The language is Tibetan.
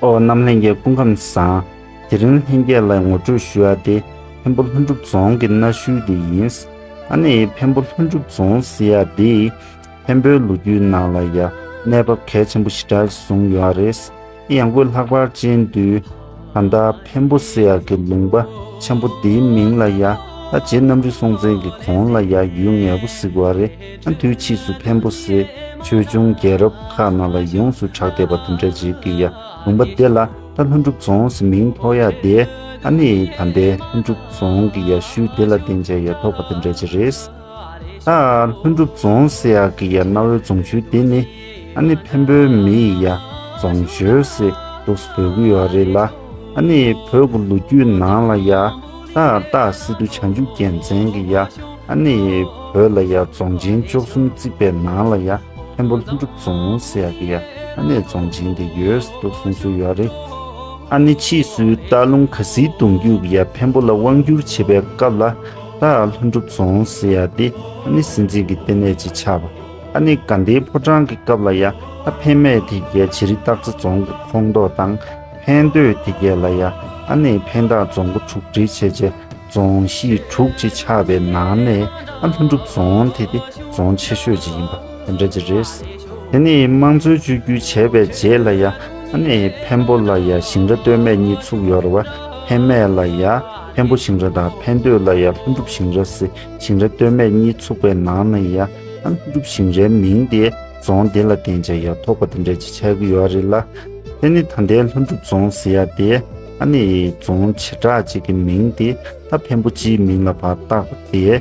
ཨོ་རྣམ་ལྷན་རྒྱས་སྐུ་ཁམས་བཟང། དེ་རིང་ལྷན་རྒྱས་ལ་ངོ་སྤྲོད་ཞུ་ཡ་དེ་འཕན་པོ་ལྷུན་གྲུབ་རྫོང་གི་གནའ་ཤུལ་དེ་ཡིན། ཨ་ནི་འཕན་པོ་ལྷུན་གྲུབ་རྫོང་ཟེར་ཡ་འདི་འཕན་པོའི་ལོ་རྒྱུས་ནང་ལ་ཡ་གནས་བབ་གལ་ཆེན་པོ་ཞེ་དྲག་བཟུང་ཡོད་རེད། གཡང་སྐུད་ལྷག་པར་ཅན་དུས་ད་ལྟ་བེམ་པོ་བསེ་ཡག་གི་ལུང་པ་ཆེན་པོ་འདིའི་མིང་ལ་ཡ་ཨ་རྗེ་གནམ་རི་སྲོང་བཙན་གྱི་གོང་ལ་ཡ་ཡུལ་ངལ་པོ་གཟིགས་བ་རེ་ཨ་དུས་ཕྱིས་སུ་བེམ་པོ་བསེ་ཆོས་འབྱུང་རྒྱལ་རབས་ཁག་ནང་ལ་ཡོངས་སུ་གྲགས་བསྡད་པ་དེ་འདྲ་རྗེས་ཀྱི་ཡ་ལུང་པ་དེ་ལ་ད་ལྷུན་གྲུབ་རྫོང་ཟེར་མིང་ཐོགས་ཡ་དེ་ཨ་ནི་ད་ལྟའི་ལྷུན་གྲུབ་རྫོང་གི་ཡ་ཤུལ་དེ་ལ་བསྟན་བྱ་ཡ་ཐོགས་པ་དེ་འདྲ་ཅི་རེད། ལྷུན་གྲུབ་རྫོང་སེ་ཡ་གི་ཡ་གནའ་བོའི་རྫོང་ཆུ་དེ་ནི་ཨ་ནི་བེམ་པོའི་མི་ཡི་ཡ་རྫོང་ཇོས་སི་ལུག་སི་བོད་ཁུལ་ཡོད་རེད་ལ་ཨ་ནི་བོད་ཀུ་ལུ་རྒྱུད་ནང་ལ་ཡ་ཏག་ཏག་སི་ཏུ་བྱང་ཆུབ་རྒྱལ་མཚན་གི་ཡ་ཨ་ནི་བོད་ལ་ཡ་རྫོང་ཆེན་བཅོ་གསུམ་བརྩིགས་པའི་ནང་ལ་ཡ་བེམ་པོ་ལྷུན་གྲུབ་རྫོང་སེ་ཡ་གི་ཡ་ཨ་ནི་རྫོང་ཆེན་དེ་ཡོས་སི་ཏུ་གསུངས་སྲོལ་ཡོད་རེད། ཨ་ནི་ཕྱིས་སུའི་སྟག་ལུང་གྷ་སིའི་གདུང་རྒྱུད་ཀྱི་ཡ་བེམ་པོ་ལ་དབང་བསྒྱུར་བྱེད་པའི་སྐབས་ལ། ལྷ་ཡག་ལྷུན་གྲུབ་རྫོང་ཟེར་ཡ་འདི་ཨ་ནི་སྲིད་འཛིན་གྱི་ལྟེ་གནས་ཅིག་ཆགས་པ་ཨ་ནི་དགའ་ལྡན་ཕོ་བྲང་གི་སྐབས་ལ་ཡ་ཨ་ཕན་མེད་དེ་རྒྱལ་བྱེ་རི་སྟག་རྩེ་རྫོང་གི་ཁོངས་གཏོགས་དང་ཕན་སྡོད་དེ་རྒྱལ་ལ་ཡ་ཨ་ནི་ཕན་བདག་རྫོང་སྒོ་དྲུག་སྒྲིལ་བྱས་རྗེས་རྫོང་གཞིས་དྲུག་ཅིག་ཆགས་པའི་ནང་ནས་ཨ་ལྷུན་གྲུབ་རྫོང་དེ་དེ་རྫོང་ཆེ་ཤོས་ཅིག་ཡིན་པ་དེ་འདྲ་ཅིག་རེད། དེ་ནི་དམངས་གཙོའི་བཅོས་བསྒྱུར་བྱས་པའི་རྗེས་ལ་ཡ་ཨ་ནི་ཕན་པོ་ལ་ཡ་ཞིང་ར་སྟོད་སྨད་གཉིས་ཚུགས་ཡོད་ར་བ་ཕན་མེད་ལ་ཡ་འཕན་པོ་ཞིང་ར་དང་འཕན་སྟོད་ལ་ཡང་ལྷུན་གྲུབ་ཞིང་ར་སེ་ཞིང་ར་སྟོད་སྨད་གཉིས་ཚུགས་པའི་ནང་ན་ཡང་ལྷུན་གྲུབ་ཞིང་རའི་མིང་དེ་རྫོང་དེ་ལ་བརྟེན་ཆ་ཡང་ཐོགས་པ་དེ་འདྲ་ཅིག་ཆགས་ཀྱི་ཡོད་རེད་ལ། དེ་ནི་ད་ལྟའི་ལྷུན་གྲུབ་རྫོང་ཟེར་ཡ་དེ་ཨ་ནི་རྫོང་བྱེ་བྲག་ཅིག་གི་མིང་དེ་ད་འཕན་པོ་སྤྱིའི་མིང་ལ་བར་བཏགས་པ་དེ།